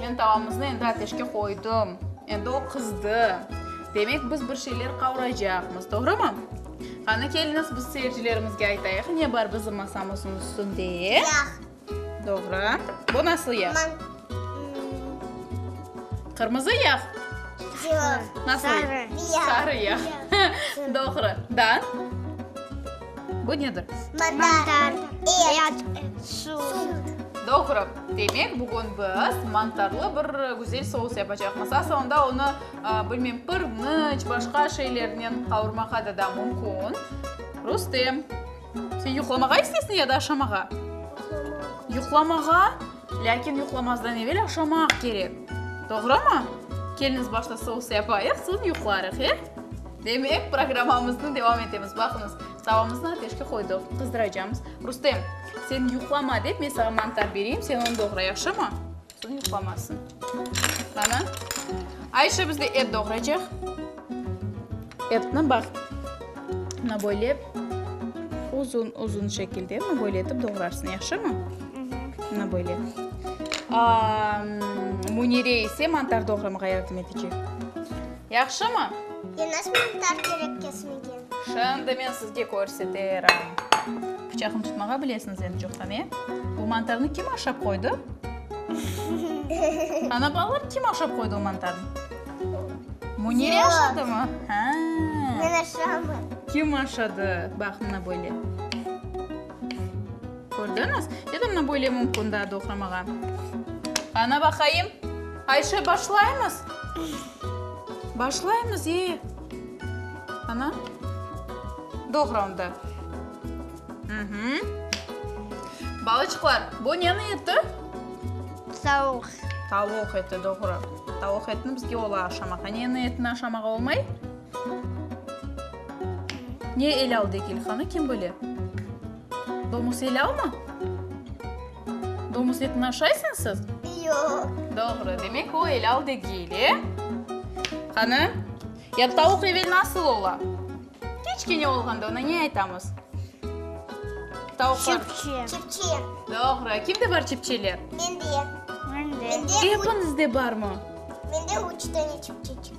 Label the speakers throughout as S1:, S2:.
S1: Men
S2: tavamıznı
S1: endi ateşke qoydım. Endi o qızdı. Demek, biz bir şeyler qavuracaqmız, doğrumı? Qani, keliñiz, biz seyircilerimizge aytayıq, ne bar bizim masamıznıñ üstünde. Yağ.
S2: Doğru.
S1: Bu nasıl yağ? Qırmızı yağ? Yoq.
S2: Nasıl?
S1: Sarı. Sarı
S2: yağ.
S1: Doğru. Da? Bu nedir?
S2: Mantar. Et. Süt. Doğru.
S1: Demek, bugün biz mantarlı bir güzel sous yapacaqmız. Aslında onı, bilmeyim, pırnıç, başqa şeylernen qavurmağa da da mümkün. Rustem, sen yuqlamağa isteysiñ ya da aşamağa? Yuqlamağa. Yuqlamağa? Lâkin yuqlamazdan evel aşamaq kerek. Doğrumı? Keliniz başta sous yapayıq, soñ yuqlarıq, e? Demek, programmamıznı devam etemiz. Baqıñız, tavamıznı ateşke qoydıq, qızdıracamız. Rustem, sen yuqlama dep, men saña mantar bereyim, sen onı doğra, yahşımı? Soñ yuqlamasın. Qana, Ayşe bizde et doğraycaq. Etni bax, mına böyle uzun-uzun şekilde mına böyle etip doğrarsıñ, yahşımı? Mına böyle. Munire ise mantar doğramağa yardım etecek. Yahşımı? Yenaz Muhtar
S2: kerek kesmege. Şimdi men sizge
S1: körseterim. Pıçaqnı tutmağa bilesiñiz endi çoqtan, e? Bu mantarnı kim aşap qoydı? Ana, balalar, kim aşap qoydı o mantarnı? Munire aşadımı? Hâ. Men aşamın.
S2: Kim aşadı?
S1: Baq, mına böyle. Kördiñiz? Ya da mına böyle mümkün daa doğramağa. Qana baqayım. Ayşe, başlaymız? Başlaymız, ee. Qana. Doğra onda. Balaçıqlar, bu neniñ eti?
S2: Tavuq. Tavuq
S1: eti, doğru. Tavuq etini bizge ola aşamaq. A neniñ etini aşamaq olmay? Ne el aldı Egilxanı, kim bile? Domus elavmı? Domus etini aşaysıñ siz? Yoq.
S2: Doğru. Demek,
S1: o elav degil, e? Qani, ya tavuq evel nasıl ola? Kiçkene olğanda ona ne aytamız? Tavuqlar. Çipçe. Çipçe.
S2: Doğru.
S1: Kimde bar çipçeler? Mende.
S2: Mende. Epinizde
S1: barmı? Mende üç
S2: tane çipçe.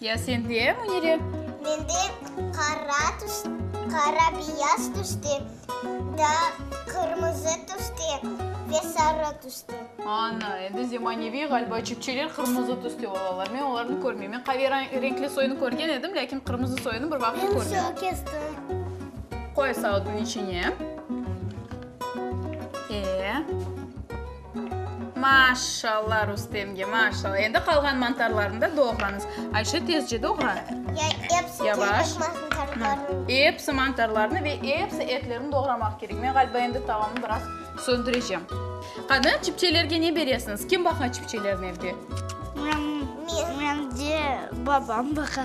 S2: Ya
S1: sende, Munire? Mende
S2: qara tüs, qara-biyaz tüste, da qırmızı tüste ve sarı tüste. Ana, endi
S1: zemaneviy ğaliba cüpçeler qırmızı tüste olalar. Men olarnı körmeyim. Men qave renkli soyunı körgen edim, lâkin qırmızı soyunı bir vaqıt körmedim. Men soy kestim.
S2: Qoy
S1: sautnıñ içine. E. Maşşalla Rustemge, maşşalla. Endi qalğan mantarlarnı da doğrañız. Ayşe, tezce doğra.
S2: Yavaş. Episi mantarlarnı
S1: ve episi etlerini doğramaq kerek. Men ğaliba endi tavamı biraz söndürecem. Qani, çipçelerge ne beresiñiz? Kim baqa çipçelerni evde?
S2: Mende babam baqa.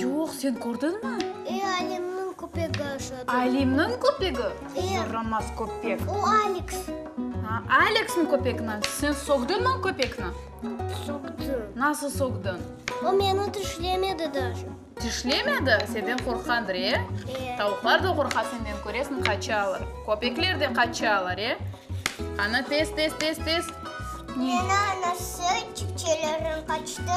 S2: Yoq, sen
S1: kördiñmi? E, Alimniñ
S2: köpegi aşadı. Alimniñ köpegi?
S1: E. Yaramaz köpek. O Aleks.
S2: Ha,
S1: Aleksniñ köpegini? Sen soqdıñmı o köpekni? Soqdım.
S2: Nasıl
S1: soqdıñ? O meni
S2: tişlemedi daşı. Tişlemedi?
S1: Senden qorqqandır, e? E. Tavuqlar da qorqa senden, köresiñ, qaçalar. Köpekler de qaçalar, e? Qani, tez, tez, tez, tez.
S2: Meni anası, cipçelerim qaçtı.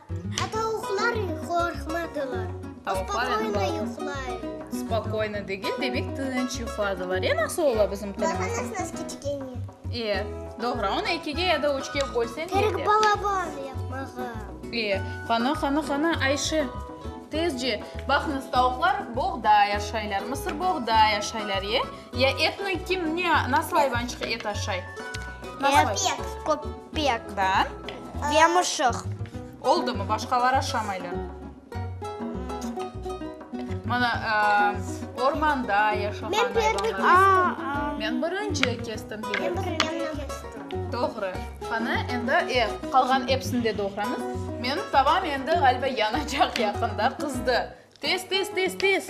S2: Tavuqlar qorqmadılar. Spokoyno yuqlaylar. Spokoyno
S1: degil, demek, tınç yuqladılar. Ya nasıl ola bizim tilimiz?
S2: E,
S1: doğru. Onı ekige ya da üçke bölseñ yetedi. Kerek balaban
S2: yapmağa. E,
S1: qana, qana, qana, Ayşe, tezce. Baqıñız, tavuqlar boğda yaşaylar, mısır boğda yaşaylar, e? Ya etni kim, ne, nasıl ayvançıq et aşay? Köpek.
S2: Da.
S1: Yamuşıq.
S2: Oldımı,
S1: başqalar aşamaylar. Mana, ormanda yaşağan ayvanlar. Men birinci kestim. Doğru. Qana, endi e, qalğan episini de doğramız. Menim tavam endi, ğaliba, yanacaq yaqında. Qızdı. Tez, tez, tez, tez!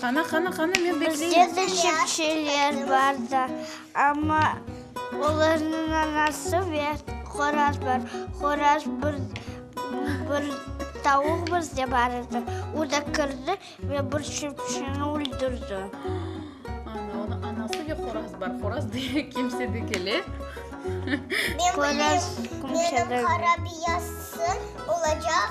S1: Qana, qana, qana, men bekleyim. Bizde de çepçeler
S2: bar da, amma olarnıñ anası ve qoraz bar. Qoraz bir, bir tavuq bizde bar edi, o da kirdi ve bir çepçeni öldürdi. Ana,
S1: onıñ anası ve qoraz bar. Qoraz demek kimse de kele. Qoraz
S2: kimse de. Menıñ qara biyazsı olacaq.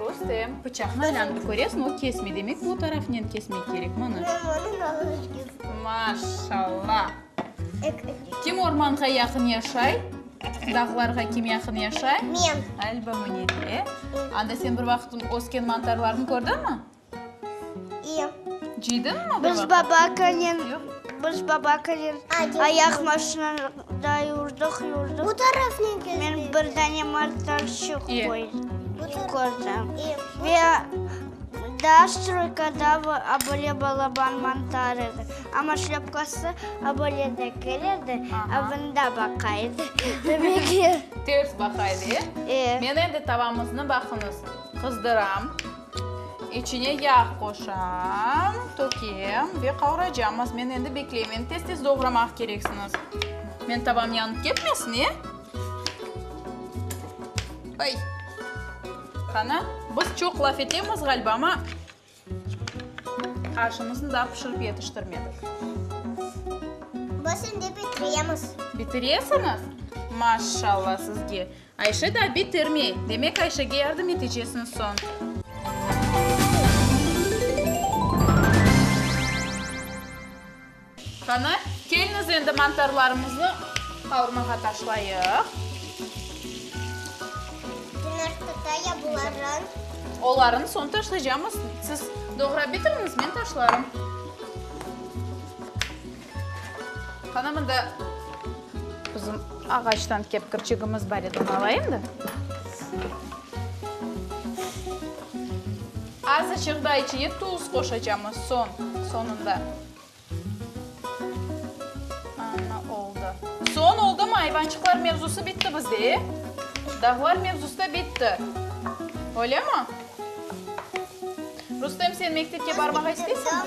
S2: Rustem,
S1: pıçaqnı alanıp köresmi, o kesmey. Demek, bu tarafınen kesmek kerek. Mana. Mama, onı nalış kestim. Maşallah. Kim ormanğa yaqın yaşay? Dağlarğa kim yaqın yaşay? Men. Alba mı,
S2: nede?
S1: Anda sen bir vaqıt ösken mantarlarnı kördünmi? Biz babakınen
S2: biz babakınen ayaq maşinada yurdıq, yurdıq. Men bir dane motorçıq kördim. Ve daa stroykada böyle balaban montar edi. Amma şlâpkası böyle de kel edi, a bunda baqa edi. Ters baqa edi,
S1: e? Meni endi tavamıznı baqıñız, qızdıram. İçine yağ qoşam, tökem ve qavraycamız. Men endi bekleymen. Tez-tez doğramaq kereksiniz. Men tavam yanıp ketmesin, e? Ay! Qana, biz çoq laf etemiz ğaliba, amma aşımıznı daa pişirip yetiştirmedik.
S2: Biz endi bitiremiz. Bitiresiñiz?
S1: Maşallah sizge! Ayşe da bitirmey. Demek, Ayşege yardım etecesiñ soñ. Qani, kelniz endi mantarlarımıznı qavurmağa taşlayıq.
S2: Yumurtqa ya bularnı? Olarnı
S1: soñ taşlaycamız. Siz doğrap bitiriniz, men taşlarım. Qana mında bizim ağaçtan kepkirçigimiz bar edi, onı alayım da. Azıcıq da içine tuz qoşacağım soñ, soñunda. Ana, oldı. Soñ oldımı, ayvançıqlar mevzusı bitti bizde, e? Dağlar mevzusı da bitti. Öylemi? Rustem, sen mektepke barmağa isteysiñmi?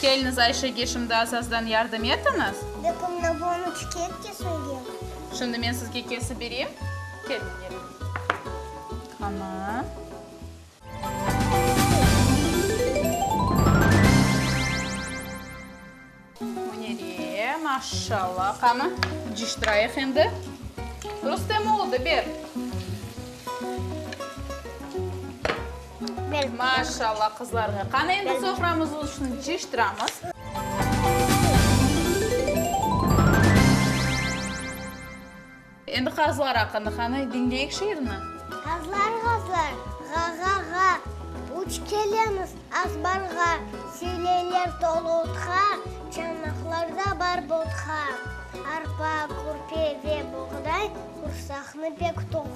S1: Keliniz Ayşege şimdi azazdan yardım etiñiz. Dökümni boñu
S2: çıket kesiñge. Şimdi men sizge
S1: kesip bereyim. Keliñ, keliñ. Qana. Münire, maşşalla. Qana, ciştirayıq endi. Rustem, oldı, ber. Maşallah qızlarğa. Qani, endi soframız uçun ciştiramız. Endi qazlar aqqında qani, diñleyik şiirni. Qazlar,
S2: qazlar, ğa-ğa-ğa, Uç kelemiz azbarğa, Seleyler tolu utqa, Çanaqlarda bar botqa. Arpa, körpe ve boğday Qursaqnı pek toq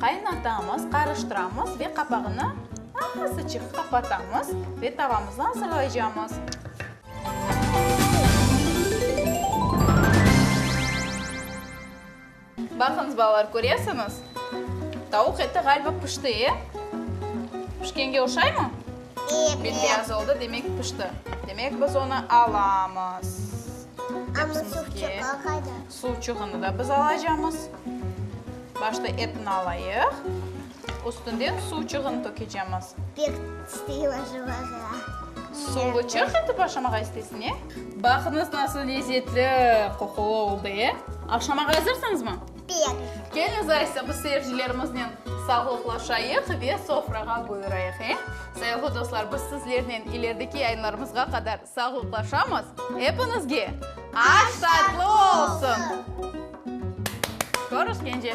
S1: Qaynatamız, qarıştıramız ve qapağını asıçıq qapatamız ve tavamızı azırlaycamız. Baqıñız, balalar, köresiñiz, tavuq eti ğaliba pişti, e? Pişkenge oşaymı? Evet. Bet-beyaz oldı, demek pişti. Demek, biz onı alamız.
S2: Amma suqçıqlar qayda? Suv çıgını da biz
S1: alacamız. Başta etni alayıq. Üstünden suv çıgını tökecemiz. Pek
S2: isteyim aşamağa. Suvlı
S1: çıg etip aşamağa isteysiñ, e? Baqıñız, nasıl lezzetli qoqulı oldı, e? Aşamağa azırsañızmı? Pek. Keliñiz
S2: aysa,
S1: biz seyircilerimiznen sağlıqlaşayıq ve sofrağa buyurayıq, e? Sayılğı dostlar, biz sizlernen ilerideki yayınlarımızğa qadar. Sağlıqlaşamız epiñizge! Aş tatlı olsun! Körüşkence!